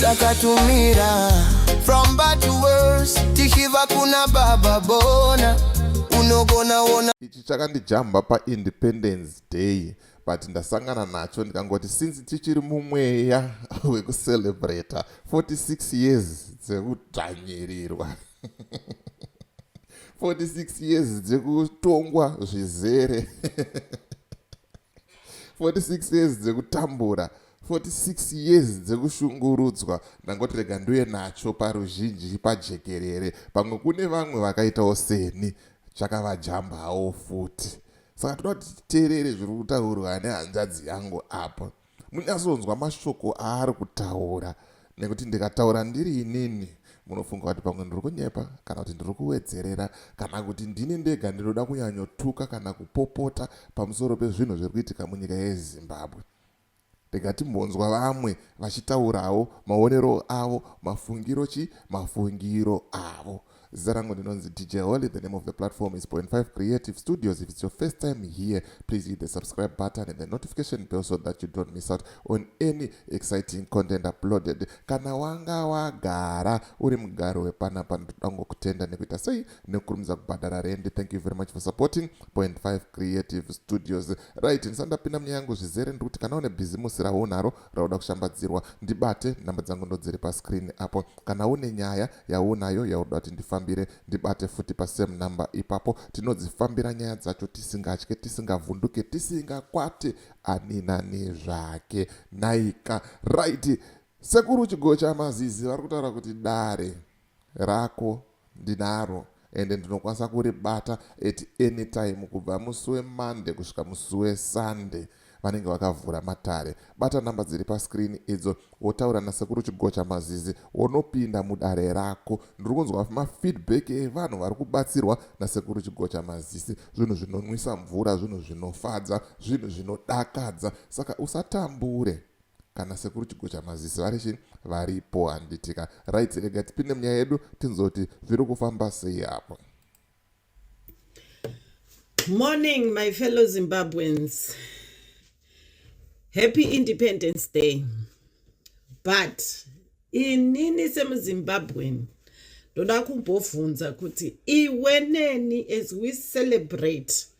takatumira from bad to worse tichiva kuna baba bona unogona ona ichi chakandijamba paindependence day but ndasangana nacho ndikangoti since tichiri mumweya wekucelebrata 46 years dzekudzvanyirirwa 46 years dzekutongwa zvizere 46 years dzekutambura 46 years dzekushungurudzwa ndangoti rega nduye nacho paruzhinji pajekerere pamwe kune vamwe vakaitawo seni chakavajambawo futi saka toda kuti titeerere zviri kutaurwa nehanzvadzi yangu apa munyazonzwa mashoko aari kutaura nekuti ndikataura ndiri inini munofunga kuti pamwe ndiri kunyepa kana kuti ndiri kuwedzerera kana kuti ndini ndega ndinoda kunyanyotuka kana kupopota pamusoro pezvinhu zviri kuitika munyika yezimbabwe ndikatimbonzwa vamwe vachitaurawo maonero avo mafungiro chi mafungiro avo Zita rangu ndinonzi DJ Holy. The name of the platform is Point 5 Creative Studios. If it's your first time here, please hit the subscribe button and the notification bell so that you don't miss out on any exciting content uploaded. Kana wanga wagara uri mugaro wepanapa ndoda kutenda nekuita sei nekukurumidza kubhadhara rendi. Thank you very much for supporting Point 5 Creative Studios. Right, ndisandapinda munyaya yangu zvizere ndikuti kana une bhizimusi raunaro rauda kushambadzirwa ndibate nhamba dzangu ndodziri pascreen apo kana une nyaya yaunayo yauda kuti ndifambire ndibate futi pasame number ipapo tinodzifambira nyaya dzacho tisingatye tisingavhunduke tisingakwate ani nani zvake naika right sekuru chigocha mazizi vari kutaura kuti dare rako ndinaro ende ndinokwanisa kuribata at any time kubva musi weMonday kusvika musi weSunday vanenge vakavhura matare. Bata number dziri pascreen idzo wotaura naSekuru Chigocha Mazizi wonopinda mudare rako. Ndiri kunzwa mafeedback evanhu vari kubatsirwa naSekuru Chigocha Mazisi. Zvinhu zvinonwisa mvura, zvinhu zvinofadza, zvinhu zvinodakadza. Saka usatambure. kana sekuru chigocha maziso arishe varipo handitika right rega tipinde munyaya yedu tinzoti zviri kufamba sei apo morning my fellow zimbabweans happy independence day but inini semuzimbabwean ndoda kumbovhunza kuti iwe neni as we celebrate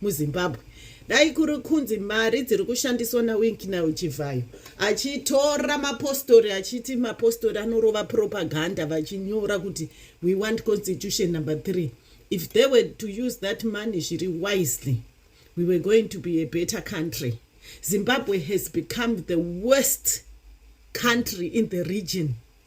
muzimbabwe dai kuri kunzi mari dziri kushandiswa nawinkina uchivhayo achitora mapostori achiti mapostori anorova propaganda vachinyora kuti we want constitution number three if they were to use that money zviri wisely we were going to be a better country zimbabwe has become the worst country in the region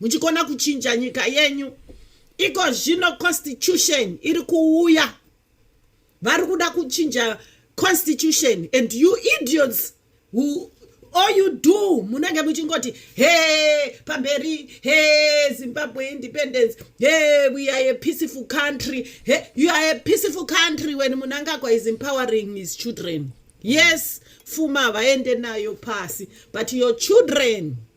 muchikona kuchinja nyika yenyu iko zvino constitution iri kuuya vari kuda kuchinja constitution and you idiots who all you do munenge muchingoti he pamberi he zimbabwe independence he we are a peaceful country he you are a peaceful country when munangagwa is empowering his children yes fuma havaende nayo pasi but your children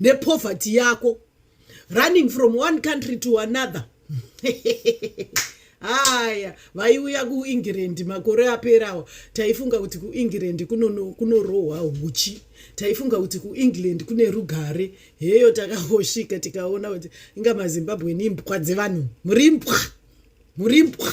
nepoverty yako running from one country to another haya vaiuya kuengland makore aperawo taifunga kuti kuengland kunorohwa huchi taifunga kuti kuengland kune rugare heyo takangosvika tikaona kuti inga mazimbabwe ni mbwa dzevanhu muri mbwa muri mbwa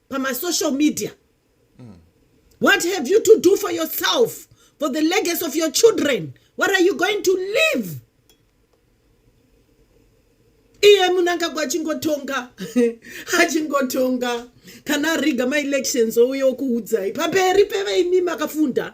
pamasocial media mm. what have you to do for yourself for the legacy of your children what are you going to live iye munangagwa achingotonga achingotonga kana ariga maelections ouye okuudzai pamberi peveimi makafunda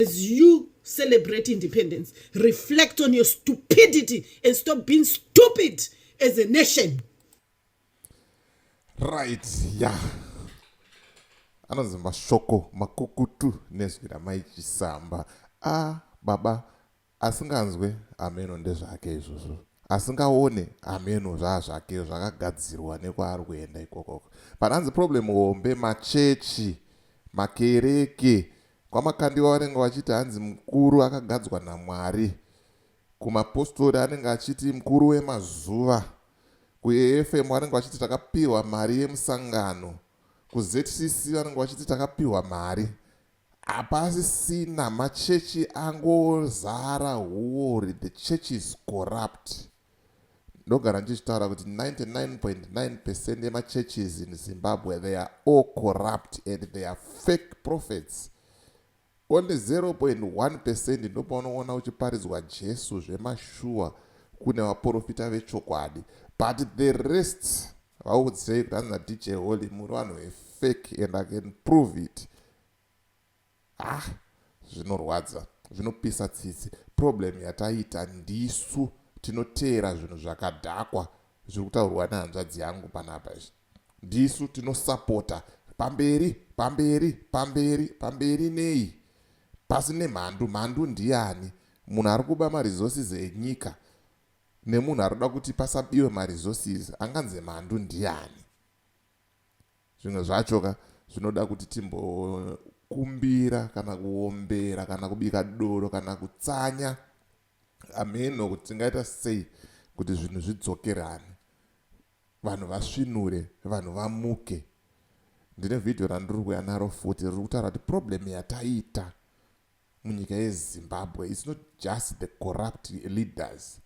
As you celebrate independence, reflect on your stupidity and stop being stupid as a nation. Right, yeah. Anonzi mashoko makukutu nezwi ramai Chisamba. Ah, baba Asinganzwe, hameno ndezvake izvozvo. Asingaone, hameno zvaazvake zvakagadzirwa nekwaari kuenda ikokoko. But hanzi problem hombe machechi, makereke. KwaMakandiwa vanenge vachiti hanzi mukuru akagadzwa naMwari. Kumapostori anenge achiti mukuru wemazuva. KuAFM vanenge vachiti takapihwa mari yemusangano. KuZCC vanenge vachiti takapihwa mari. Hapasisina machechi angozara huwori the church is corrupt. Ndogara ndichitaura kuti 99.9 percent yemachurches in Zimbabwe they are all corrupt and they are fake prophets. Only 0.1 percent ndopaunoona uchiparidzwa Jesu zvemashuwa kune vaporofita vechokwadi but the rest Vaudzei kuti hanzi naDJ Holy muri vanhu vefake and I can prove it. Ah, zvinorwadza, zvinopisa tsitsi. Problem yataita ndisu tinoteera zvinhu zvakadhakwa zviri kutaurwa nehanzvadzi yangu panapa izvi. Ndisu tinosapota pamberi, pamberi, pamberi, pamberi nei? Pasi nemhandu, mhandu ndiani? Munhu ari kuba maresources enyika. nemunhu arikuda kuti pasabiwe maresources anganzi mhandu ndiani zvimwe zvacho ka zvinoda kuti timbokumbira kana kuombera kana kubika doro kana kutsanya ameno kuti tingaita sei kuti zvinhu zvidzokerane vanhu vasvinure vanhu vamuke ndine vhidhiyo randiri kuuya naro futi riri kutaura kuti problem yataita munyika yezimbabwe its not just the corrupt leaders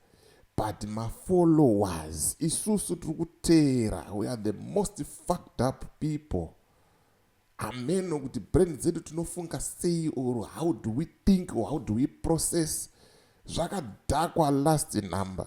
but mafollowers isusu tiri kuteera we are the most fucked up people ameno kuti brand dzedu tinofunga sei or how do we think or how do we process zvakadhakwa last number